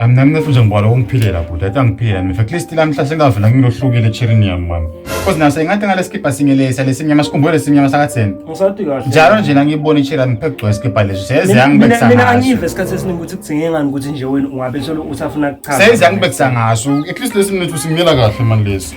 Mina mina futhi ngibona ukungiphilela bhuti athi angiphilela mina at least lamhla sengavela ngilohlukile echirini yami mama cause nase ngathi ngalesikibha singelesa lesimnyama sikhumbule lesimnyama sakatheni Ngisathi kahle. njalo nje nangibona ichira ngiphe kugcwele isikibha leso seyeze Mina- mina- yangibekisa Mina ngaso angive isikhathi esiningi ukuthi kudzingeke ngani ukuthi nje wena ungabe solo usafuna kuchaza. seyeze yangibekisa ngaso at least lesi mnethu simnyela kahle mani lesi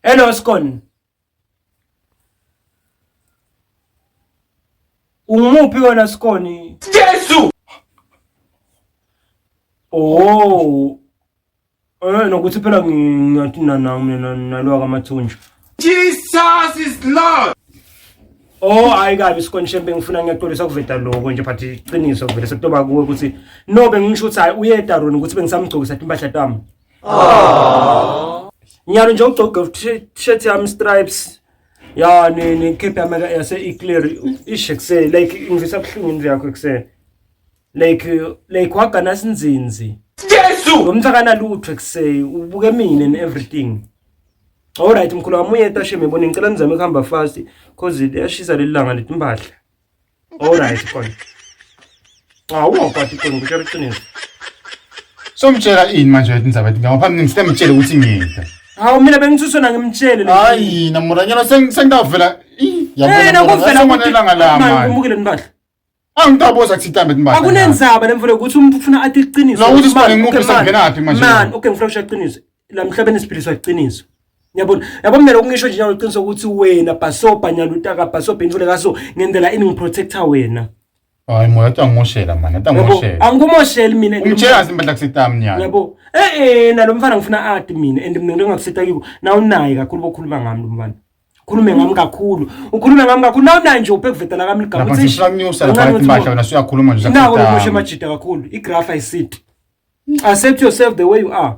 Hello Skon. Ungumuphi wena Skoni? Jesu. Oh. Eh nokuthi phela ngiyathina na mina nalwa kamathunjwa. Jesus is Lord. Oh hayi kabi Skoni shembe ngifuna ngiyaxolisa kuveta lokho nje but iqiniso vele sekutoba kuwe ukuthi no bengisho ukuthi hayi uye edaroni ukuthi bengisamgcokisa impahla tami. Ah. Ngiyalo nje ugcoke t-shirt yami stripes. Ya ni ni cap yami yase eclear ishe kuse like ngivisa buhlungu indlu yakho kuse. Like like wagana sinzinzi. Jesu! Ngomthakana lutho kuse ubuke mina and everything. Alright mkhulu wami uyeta sheme bona ngicela nizame kuhamba fast cause liyashisa lelanga letimpahla. Alright khona. Cha uwaphathi khona ukutshela iqiniso. Somtshela ini manje wathi nizaba ethi ngapha mina ngisemtshele ukuthi ngiyinto. Hawu mina bengithuswe na ngimtshele. Hayi na muranyana sengidavela. Yabona. Yena kuvela ukuthi ilanga la manje. Ngimukile nibadla. Angitaboza kuthi itambe timbala. Akunenzaba lemvule ukuthi umuntu ufuna athi iqiniso. Nokuthi sibani umuntu usengenaphi manje. Man, okay ngifuna ukushiya iqiniso. la mhlabeni esiphiliswa iqiniso Ngiyabona. Yabo mina lokungisho nje nalo qiniso ukuthi wena bhasobha nyaluta ka bhasobha intule kaso ngendela ini ngiprotector wena. Hayi moya athi angimoshela manje, athi angimoshela. Angikumosheli mina. Ungitshela zimpahla kusitami nyalo. Yabo. Eh eh nalo mfana ngifuna ati mina and mina ngingakusita kiko. Na unayi kakhulu bokhuluma ngami lo mfana. Ukhulume ngami kakhulu. Ukhulume ngami kakhulu. Na unayi nje uphekuvetela kami ligama. Lapha sifuna kunyusa lapha impahla wena suyakhuluma nje. Nawo lo moshe majida kakhulu. I graph I sit. Accept yourself the way you are.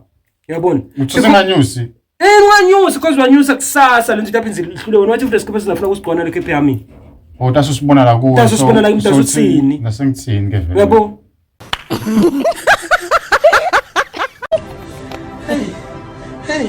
Yabona. Usinganyusi. Eh unganyusi because wanyusa kusasa lento lapha inzile ihlule wena wathi futhi sikhathi singafuna ukusigona le KPA mina. Oh taso sibona la kuwe. Taso sibona la imtaso sini. Nasengithini ke vele. Yabona. Hey! Hey!